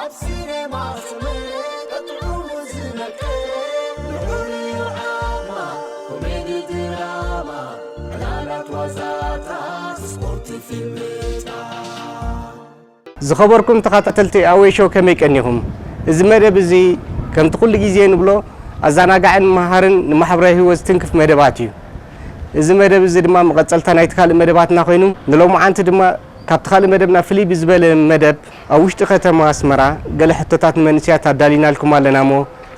ኣብ ሲነማ ሰመረ ቀጢዑ ዝመቀረ ልዑል እዩ ዓቕማ ኮሜዲ ድራማ ዕላላት ዋዛታት ስፖርት ፊልምታት ዝኸበርኩም ተኸታተልቲ ኣዌ ሾው ከመይ ቀኒኹም? እዚ መደብ እዚ ከምቲ ኩሉ ግዜ ንብሎ ኣዛናጋዕን መሃርን ንማሕበራዊ ሂወት ዝትንክፍ መደባት እዩ። እዚ መደብ እዚ ድማ መቐጸልታ ናይቲ ካልእ መደባትና ኮይኑ ንሎሙዓንቲ ድማ ካብቲ ካልእ መደብና ፍልይ ብዝበለ መደብ ኣብ ውሽጢ ከተማ ኣስመራ ገለ ሕቶታት ንመንእሰያት ኣዳሊናልኩም ኣለና'ሞ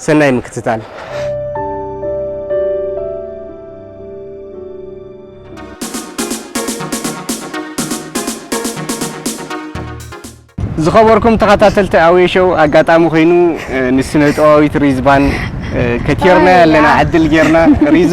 ሰናይ ምክትታል። ዝኸበርኩም ተኸታተልቲ ኣውየ ሾው ኣጋጣሚ ኮይኑ ንስነጥበባዊት ሪዝባን ከቲርናያ ኣለና ዕድል ጌርና ሪዙ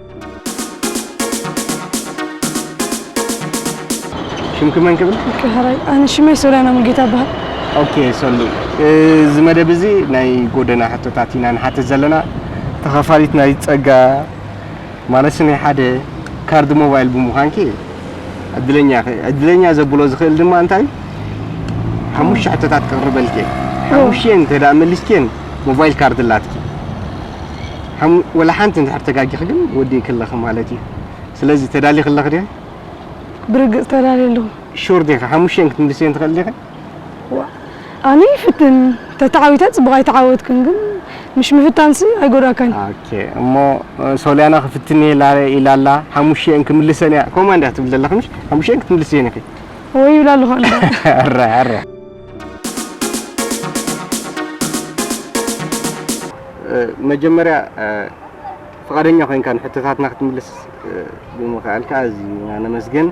ሽምኪ መን ክብል ከሃራይ ኣነ ሽመይ ሶልያና ሙልጌታ በሃል ኦኬ ሰሉ እዚ መደብ እዚ ናይ ጎደና ሕቶታት ኢና ንሓትት ዘለና ተኸፋሊት ናይ ፀጋ ማለት ናይ ሓደ ካርድ ሞባይል ብምዃንኪ ዕድለኛ ኢኺ ዕድለኛ ዘብሎ ዝኽእል ድማ እንታይ ሓሙሽተ ሕቶታት ክቕርበልኪ እየ ሓሙሽተን እንተ መሊስክየን ሞባይል ካርድ ኣላትኪ ሓሙ ወላ ሓንቲ እንድሕር ተጋጊኺ ግን ወዲእኪ ኣለኺ ማለት እዩ። ስለዚ ተዳሊኺ ኣለኺ ዲኺ? ብርግጽ ተዳልየ ኣለኹ። ሹር ዲኺ? ሓሙሽቲኤን ክትምልስየን ትኽእሊ ዲኺ? ዋእ ኣነ ይፍትን ተተዓዊተ ጽቡቕ ኣይተዓወትኩን ግን ምሽ ምፍታንሲ ኣይጎዳእካን። ኦኬ እሞ ሶልያና ክፍትንየ ኢላ ኢላ ኣላ ሓሙሽቲኤን ክምልሰን እያ ከምኡ እንድያ ትብሊ ዘለኺ ምሽ ሓሙሽቲኤን ክትምልስየን ኢኺ። ወይ ይብላ ኣለኹ ኣነ። ኣረ ኣረ። መጀመርያ ፍቓደኛ ኮይንካ ንሕቶታትና ክትምልስ ብምኽኣልካ ኣዝና ነመስግን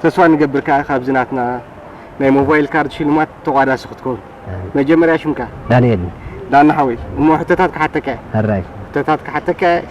ተስፋ ንገብር ከዓ ካብዚ ናትና ናይ ሞባይል ካርድ ሽልማት ተቋዳሲ ክትከውን መጀመርያ ሽምካ ዳንኤል ዳና ሓወይ እሞ ሕቶታት ክሓተካ ሕቶታት ክሓተካ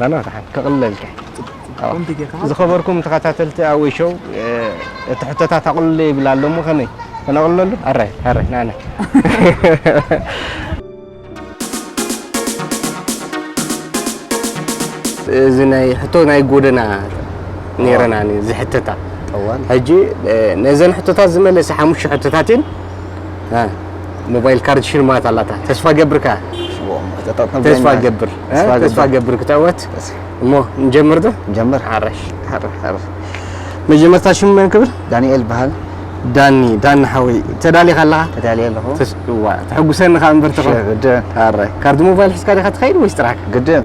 ናና ተሓን ከቕልለልካ ዝኸበርኩም ተኸታተልቲ ኣወይ ሾው እቲ ሕቶታት ኣቕልሎ ይብል ኣሎ እሞ ከመይ ከነቕልለሉ ኣራይ ኣራይ ናና እዚ ናይ ሕቶ ናይ ጎደና ነይረና ዝሕተታ ሕጂ ነዘን ሕቶታት ዝመለሰ ሓሙሽተ ሕቶታት እየን ሞባይል ካርድ ሽልማት ኣላታ ተስፋ ገብር ከ ተስፋ ገብር ተስፋ ገብር ክተወት እሞ ንጀምር ዶ ንጀምር ሓረሽ መጀመርታ ሽሙ መን ክብል ዳንኤል በሃል ዳኒ ዳኒ ሓወይ ተዳሊኻ ኣለኻ ተዳልየ ኣለኹ ተስዋ ተሐጉሰኒ ከኣ እምበር ተኸ ግድን ካርድ ሞባይል ሒዝካ ዲኻ ትኸይድ ወይስ ጥራሕካ ግድን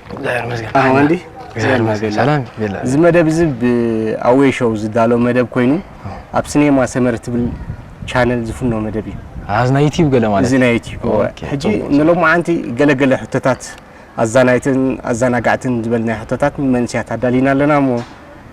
ኣዋንዲ ሰላም እዚ መደብ እዚ ብኣዌ ሾው ዝዳሎ መደብ ኮይኑ ኣብ ሲኔማ ሰመር ትብል ቻነል ዝፍኖ መደብ እዩ እዚ ናይ ዩቲዩብ ገለ ማለት እዚ ናይ ዩቲዩብ ሕጂ ንሎማዓንቲ ገለገለ ሕቶታት ኣዛናይትን ኣዘናጋዕትን ዝበልናይ ሕቶታት ንመንስያት ኣዳሊና ኣለና እሞ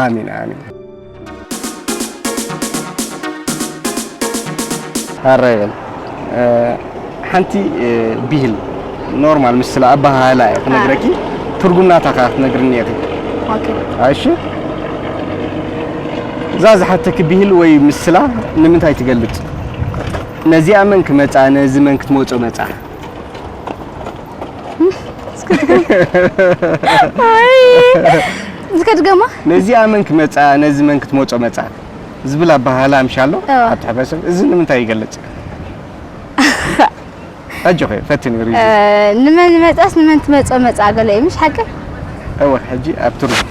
ኣሜን ኣሜን ሃራ ይበል እ፣ ሓንቲ እ፣ ብሂል ኖርማል ምስ ስለ ኣበሃህላ እየ ክነግረኪ ትርጉም ናታ ከዓ ክትነግርኒ ኢኺ ኦኬ እሺ እዛ ዝሓተኪ ብሂል ወይ ምስላ ንምንታይ ትገልፅ ነዚኣ መን ክመፃ ነዚ መን ክትመፆ መፃ ዝከድገማ ነዚኣ መን ክመፃ ነዚ መን ክትመፆ መፃ ዝብል ኣባሃላ ምሻሎ እዋ። ኣብ ሕብረተሰብ እዚ ንምንታይ ይገልፅ ኣጆኺ ፈትኒ ሪዚ ንመን ይመፃስ ንመን ትመፆ መፃ ገለ እዩ ምሽ ሓቂ እወ ሕጂ ኣብ ትርጉም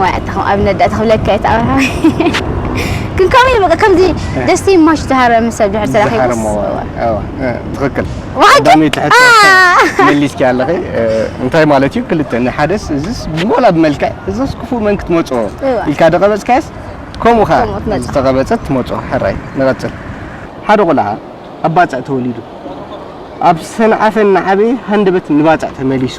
ዋይ ኣታ ከም ኣብነት ዳኣ ተክብለካ እየ ተኣምርካ ግን ከምኡ እዩ በቃ ከምዚ ደስቲ ማሽ ዝሃረመ ሰብ ድሕር ተረኺቡስ ትኽክል ዳመይ ትሕቶ መሊስኪ ኣለኺ እንታይ ማለት እዩ ክልተ ንሓደስ እዚስ ብሞላ ብመልክዕ እዚስ ክፉእ መን ክትመጾ ኢልካ ደቐበጽካስ ከምኡ ኸኣ ዝተቐበጸት ትመጾ ሕራይ ንቐጽል ሓደ ቆልዓ ኣብ ባጽዕ ተወሊዱ ኣብ ሰንዓፈ እናዓበየ ሃንደበት ንባጽዕ ተመሊሱ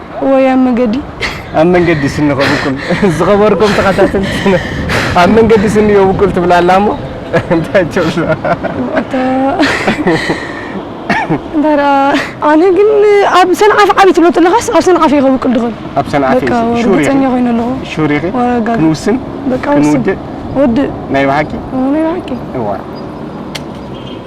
ወይ ኣብ መገዲ ኣብ መንገዲ ስኒ ከብቁል ዝኸበርኩም ተኸታተልቲ ኣብ መንገዲ ስኒ የብቁል ትብላ ኣላ እሞ እንታይ ትብላ እንታይ ደኣ ኣነ ግን ኣብ ሰንዓፈ ዓብ ትብሎ ዘለኻስ ኣብ ሰንዓፈ እዩ ከብቁል ድኽእል ኣብ ሰንዓፈ ርግፀኛ ኮይኑ ኣለኹ ሹር ኢኺ ክንውስን ክንውድእ ወድእ ናይ ብሓቂ ናይ ብሓቂ እዋ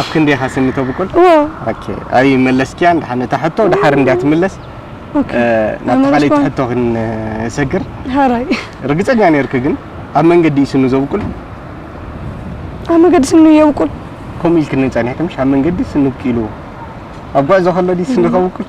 ኣብ ክንደይ ኢኻ ስኒ ተብቁል? ኦኬ ኣይ መለስኪያ እንድሓን እታ ሕቶ ድሓር እንድያ ትምለስ ናብ ተኻለይቲ ሕቶ ክንሰግር ሃራይ ርግጸኛ ነይርክ ግን ኣብ መንገዲ እዩ ስኑ ዘብቁል ኣብ መንገዲ ስኑ የብቁል ከምኡ ኢልክኒ ጸኒሕክምሽ ኣብ መንገዲ ስኑ ብቂሉ ኣብ ጉዕዞ ከሎ ድዩ ስኑ ከብቁል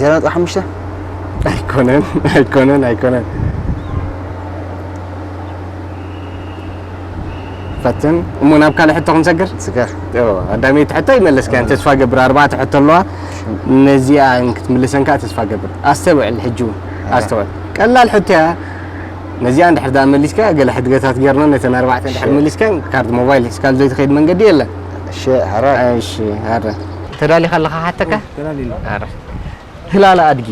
ዜሮ ነጥቢ ሓሙሽተ ኣይኮነን ኣይኮነን ኣይኮነን ፈትን እሞ ናብ ካልእ ሕቶ ክንሰግር ስገር ኣዳመይቲ ሕቶ ይመለስካ ተስፋ ገብር ኣርባዕተ ሕቶ ኣለዋ ነዚኣ ክትምልሰን ከዓ ተስፋ ገብር ኣስተውዕል ሕጂ እውን ኣስተውዕል ቀላል ሕቶ እያ ነዚኣ እንድሕር ደኣ መሊስካ ገለ ሕድገታት ጌርና ነተን ኣርባዕተ እንድሕር መሊስከን ካርድ ሞባይል ሒዝካሉ ዘይትኸይድ መንገዲ የለን። እሺ ሀረ እሺ ሀረ ተዳሊኻ ኣለኻ ሓተካ ሀረ ህላለ ኣድጊ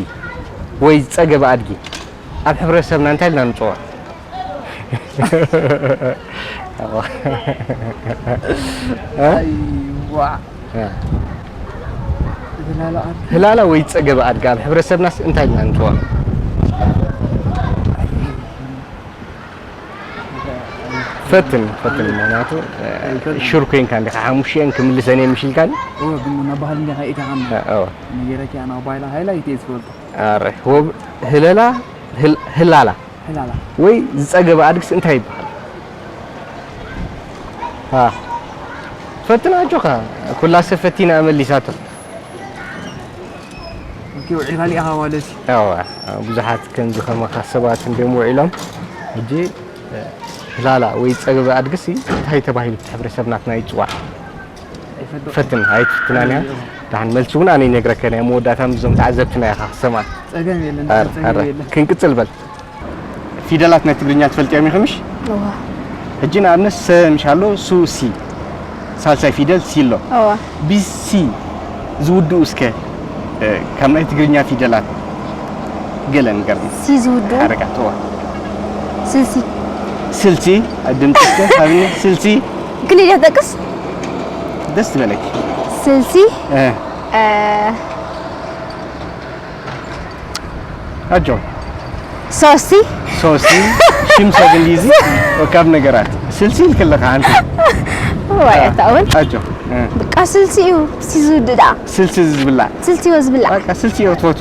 ወይ ጸገበ ኣድጊ ኣብ ሕብረተሰብና እንታይ ኢልና ንጽውዖ? ህላላ ወይ ፀገበ ኣድጊ ኣብ ሕብረተሰብናስ እንታይ ኢልና ንፅውዖ? ፈትን ፈትን ምክንያቱ ሹር ኮይንካ እንዲኻ ሓሙሽተን ክምልሰን እየ ምሽ ኢልካኒ ናባህል እንዲኻ ኢታኻ ነገረኪ ኣና ባይላ ሃይላ ይትየ ዝፈልጦ ህለላ ህላላ ዕላላ ወይ ዝጸገበ ኣድግስ እንታይ ይበሃል? ሀ ፈትን ኣጆኻ ኩላ ሰብ ፈቲና መሊሳቶ። ኦኬ ውዒልካ ሊኢኻ ማለት እዩ። ያዋ ብዙሓት ከምዚ ከማኻ ሰባት እንድዮም ውዒሎም። ሕጂ ዕላላ ወይ ጸገበ ኣድግሲ እንታይ ተባሂሉ እቲ ሕብረተሰብ ናትና ይጽዋዕ? ፈትን ኣይትፍትናን እያ ድሓን መልሲ እውን ኣነ ይነግረከን እያ መወዳእታ ምስዞም ተዓዘብትና ኢኻ ክሰማ ጸገም የለን ጸገም የለን ክንቅጽል በል ፊደላት ናይ ትግርኛ ትፈልጥዮም ኢኹምሽ ሕጂ ንኣብነት ሰ ምሽ ኣሎ ሱ ሲ ሳልሳይ ፊደል ሲ ኣሎ ብሲ ዝውድኡ እስከ ካብ ናይ ትግርኛ ፊደላት ገለ ንገርኒ ሲ ዝውድኡ ሓረጋት ስልሲ ስልሲ ድምፂ እስከ ሃብኒ ስልሲ ክሊል እያ ትጠቅስ ደስ ዝበለኪ ስልሲ እ እ፣ ኣጆ ሶሲ ሶሲ ሽም ሰብ እንግሊዝ ወካብ ነገራት ስልሲ ልክልካ ኣንቲ ወይ ኣታውን ኣጆ እ፣ በቃ ስልሲ እዩ ሲዙ ድዳ ስልሲ ዝብላ ስልሲ ወዝብላ በቃ ስልሲ እዮ ትፈቱ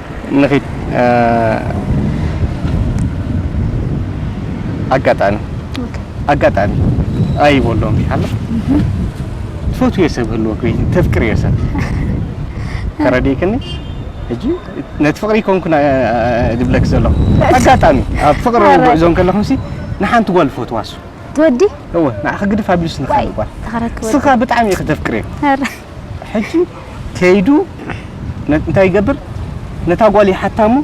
ንኺድ ኣጋጣሚ ኣጋጣሚ ኣይቦሎም ይሓሎ ትፈትዮ ሰብ ህልወ ኮይኒ ተፍቅርዮ ሰብ ተረዲክኒ ሕጂ ነቲ ፍቅሪ ኮንኩና ድብለክ ዘለኹ ኣጋጣሚ ኣብ ፍቅሪ ጉዕዞ ከለኹምሲ ንሓንቲ ጓል ፈትዋሱ ትወዲ እወ ንዓ ክግድፍ ኣቢሉስ ንኻል ጓል ተኸረክበ ስኻ ብጣዕሚ ኢኺ ተፍቅርዮ ሕጂ ከይዱ እንታይ ይገብር ነታ ጓል ይሓታ እሞ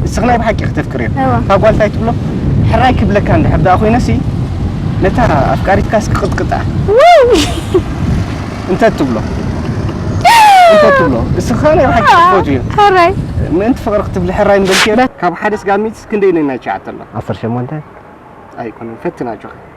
ንስኺ ናይ ብሓቂ ክተፍቅርዮ እታ ጓል እንታይ ትብሎ ሕራይ ክብለካ እንድሕር ደኣ ኮይነሲ ነታ ኣፍቃሪትካስ ክቕጥቅጣ እንተ ትብሎ እንተ ትብሎ ንስኺ ከዓ ናይ ብሓቂ ክትፈትዮ ሕራይ ምእንቲ ፍቕሪ ክትብሊ ሕራይ ምበልክዮ ካብ ሓደ ስጋ ሚትስ ክንደይ ነናይ ትሽዓተ ኣሎ ዓሰርተ ሸሞንተ ኣይኮነን ፈትናጆ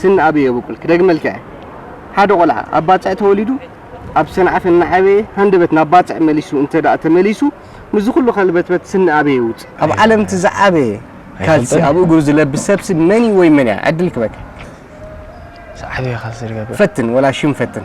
ስኒ ኣበይ የቡቁል ክደግመልካ እየ ሓደ ቆልዓ ኣብ ባጽዕ ተወሊዱ ኣብ ሰንዓፈ እናዓበየ ሃንደበት ናብ ባጽዕ መሊሱ እንተድኣ ተመሊሱ ምስዚ ኩሉ ከልበትበት ስኒ ኣበይ የውጽእ። ኣብ ዓለም እቲ ዝዓበየ ካልሲ ኣብ እግሩ ዝለብስ ሰብሲ መን እዩ ወይ መን እያ ዕድል ክበካ ዝዓበየ ካልሲ ዝገብር ፈትን ወላ ሽም ፈትን።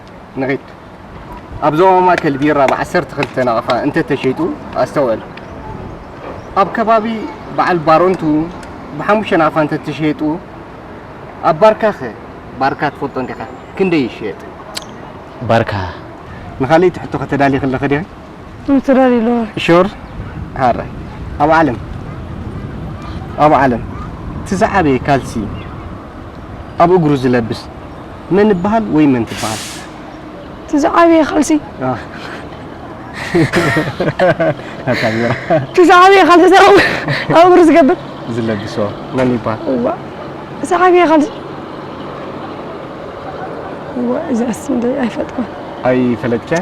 ንዒት ኣብ ዞባ ማእከል ቢራ ብ ዓሰርተ ክልተ ናቕፋ እንተ ተሸይጡ ኣስተውዕል። ኣብ ከባቢ በዓል ባረንቱ ብ ሓሙሽተ ናቕፋ እንተ ተሸይጡ ኣብ ባርካኸ? ባርካ ትፈልጦ እንዲኻ ክንደይ ይሽየጥ? ባርካ። ንኻልእይቲ ሕቶ ከተዳሊ ክለኺ ዲኺ? ትረር ኢሎ ሹር ሃረ ኣብ ዓለም ኣብ ዓለም እቲ ዝዓበየ ካልሲ ኣብ እግሩ ዝለብስ መን ይበሃል ወይ መን ትበሃል? እቲ ዝዓበየ ካልሲ እቲ ዝዓበየ ካልሲ ኣብ እግሩ ዝገብር ዝለብሶ መን ይበሃል? እቲ ዝዓበየ ካልሲ እዚኣስ ኣይፈልጥኩን ኣይፈለጥካያ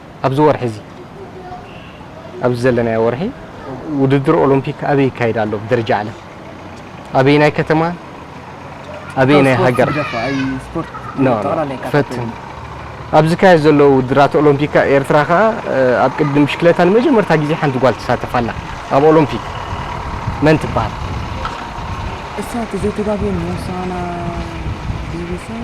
ኣብዚ ወርሒ እዚ ኣብዚ ዘለናዮ ወርሒ ውድድር ኦሎምፒክ ኣበይ ይካየድ ኣሎ ብደረጃ ዓለም ኣበየናይ ከተማ ኣበየናይ ሃገር ፈትን ኣብ ዝካየድ ዘሎ ውድድራት ኦሎምፒክ ኤርትራ ከዓ ኣብ ቅድም ብሽክለታ ንመጀመርታ ግዜ ሓንቲ ጓል ትሳተፍ ኣላ ኣብ ኦሎምፒክ መን ትበሃል እሳ እቲ ዘይተጋግየ ሞሳና ዲቪሰን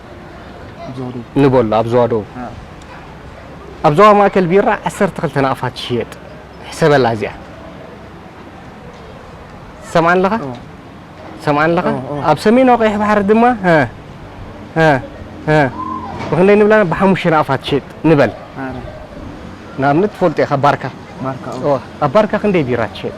ንበሎ ኣብ ዞባ ደቡብ ኣብ ዞባ ማእከል ቢራ ዓሰርተ ክልተ ናቕፋ ትሽየጥ ሕሰበላ እዚኣ ትሰምዓኒ ኣለኻ ትሰምዓኒ ኣለኻ ኣብ ሰሜናዊ ቀይሕ ባሕሪ ድማ ብክንደይ ንብላ ብሓሙሽተ ናቕፋ ትሽየጥ ንበል ንኣብነት ትፈልጦ ኢኻ ባርካ ኣብ ባርካ ክንደይ ቢራ ትሽየጥ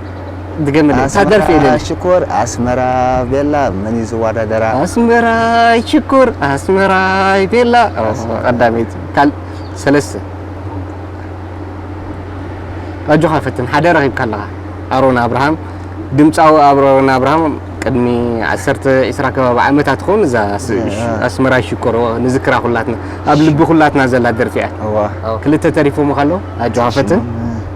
ድገምለይ እታ ደርፊ ኣስመራ ኢለኒ ሽኮር ኣስመራ ቤላ መን እዩ ዝወዳደራ ኣስመራይ ሽኮር ኣስመራይ ቤላ ኣስመራ። ቀዳመይቲ ካል ሰለስተ ኣጆኻ ፈትን ሓደ ረኺብካ ኣለኻ ኣሮን ኣብርሃም ድምፃዊ ኣሮን ኣብርሃም ቅድሚ ዓሰርተ ዒስራ ከባቢ ዓመታት ትኸውን እዛ ስ- እሺ፣ አ። ኣስመራይ ሽኮር ኦ፣ ንዝክራ ኩላትና ኣብ ልቢ ኩላትና ዘላ ደርፊ እያ እዋ ክልተ ተሪፎም ከለዉ ኣጆኻ ፈትን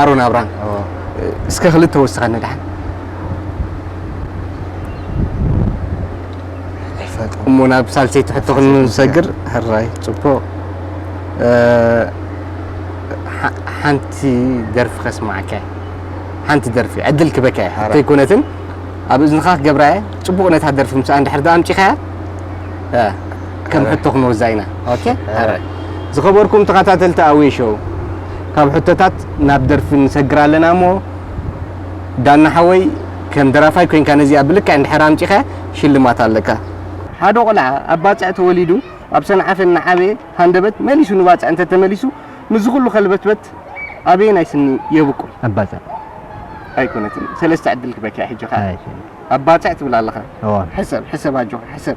ኣሮን ኣብራም እስከ ክልተ ወስኸኒ ድሓን እሞ ናብ ሳልሰይቲ ሕቶ ክንሰግር ሕራይ ፅቡቕ ሓንቲ ደርፊ ከስማዕካ ሓንቲ ደርፊ ዕድል ክበካ እየ ከይኮነትን ኣብ እዝንኻ ክገብራ እየ ፅቡቕ ነታ ደርፊ ምስ እንድሕር ዶ ኣምጪኻያ ከም ሕቶ ክንወዛ ኢና ኦኬ ሐረ ዝኸበርኩም ተኸታተልቲ ኣዌ ሾው ካብ ሕቶታት ናብ ደርፊ ንሰግር ኣለና እሞ ዳና ሓወይ ከም ደራፋይ ኮይንካ ነዚኣ ብልክዕ እንድሕር ኣምጪኻ ሽልማት ኣለካ ሓደ ቆልዓ ኣብ ባጽዕ ተወሊዱ ኣብ ሰንዓፈ እናዓበየ ሃንደበት መሊሱ ንባጽዕ እንተተመሊሱ ምስዚ ኩሉ ከልበትበት ኣበየናይ ስኒ የብቁል ኣብ ባጽዕ ኣይኮነትን ሰለስተ ዕድል ክበኪ ሕጂ ከኣ ኣብ ባጽዕ ትብል ኣለኻ ሕሰብ ሕሰብ ኣጆኻ ሕሰብ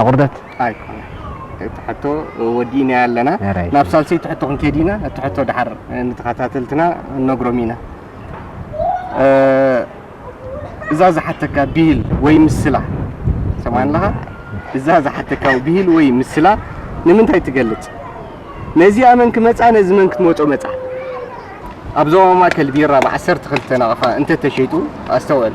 ኣቁርደት ኣይኮነን እቲ ሕቶ ወዲእናዮ ኣለና ኣራይ። ናብ ሳልሰይቲ ሕቶ ክንከይድ ኢና እቲ ሕቶ ድሓር ንተኸታተልትና ክንነግሮም ኢና እ፣ እዛ ዝሓተካ ብሂል ወይ ምስላ ሰማዕኒ ኣለኻ እዛ ዝሓተካ ብሂል ወይ ምስላ ንምንታይ ትገልጽ ነዚኣ መን ክመጻ ነዚ መን ክትመጾ መጻ ኣብ ዞባ ማእከል ቢራ ብ12 ናቕፋ እንተተሸይጡ ኣስተውዕል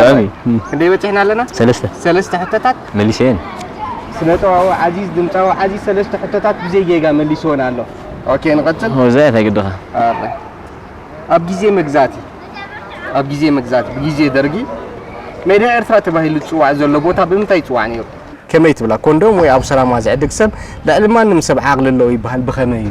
ጥዑም እዩ ክንደይ በፂሕና ኣለና ሰለስተ ሰለስተ ሕቶታት መሊሰየን ስነ ጥበባዊ ዓዚዝ ድምፃዊ ዓዚዝ ሰለስተ ሕቶታት ብዘይ ጌጋ መሊስዎን ኣሎ ኦኬ ንቐፅል ወዛ እያ እንታይ ግድኻ ኣብ ግዜ መግዛእቲ ኣብ ግዜ መግዛእቲ ብግዜ ደርጊ ሜዳ ኤርትራ ተባሂሉ ዝፅዋዕ ዘሎ ቦታ ብምንታይ ይፅዋዕ ነይሩ ከመይ ትብላ ኮንዶም ወይ ኣብ ሰላማ ዝዕድግ ሰብ ልዕሊ ማንም ሰብ ዓቕሊ ኣለዎ ይበሃል ብኸመይ እዩ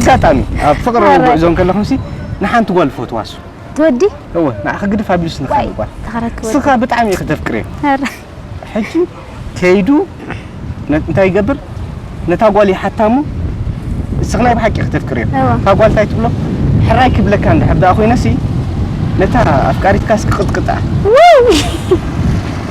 ኣጋጣሚ ኣብ ፍቕራዊ ጉዕዞ እንከለኹምሲ ንሓንቲ ጓል እፈትዋሱ ትወዲ እወ ንዓኺ ግድፍ ኣቢሉስ ንኻልእ ጓል ንስኻ ብጣዕሚ ኢኺ ተፍቅርየ ሕጂ ከይዱ እንታይ ይገብር ነታ ጓል ይሓታ እሞ ንስኺ ናይ ብሓቂ ኢኺ ተፍቅርዮ እታ ጓል እንታይ ትብሎ ሕራይ ክብለካ እንድሕር ደኣ ኮይነሲ ነታ ኣፍቃሪትካስ ክቕጥቅጣ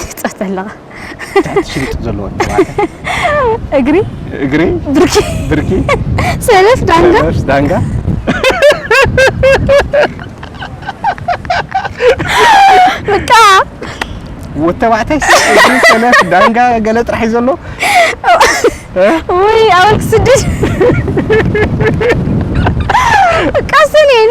ትሕጸት ኣለኻ ትሕቲ ሽምጡ ዘለዎ ተባዕታይ እግሪ እግሪ ብርኪ ብርኪ ሰለፍ ዳንጋ ሰለፍ ዳንጋ በቃ ወዲ ተባዕታይ እግሪ ሰለፍ ዳንጋ ገለ ጥራሕ እዩ ዘሎ ወይ ኣወልክ ስድድ በቃ ሰኔን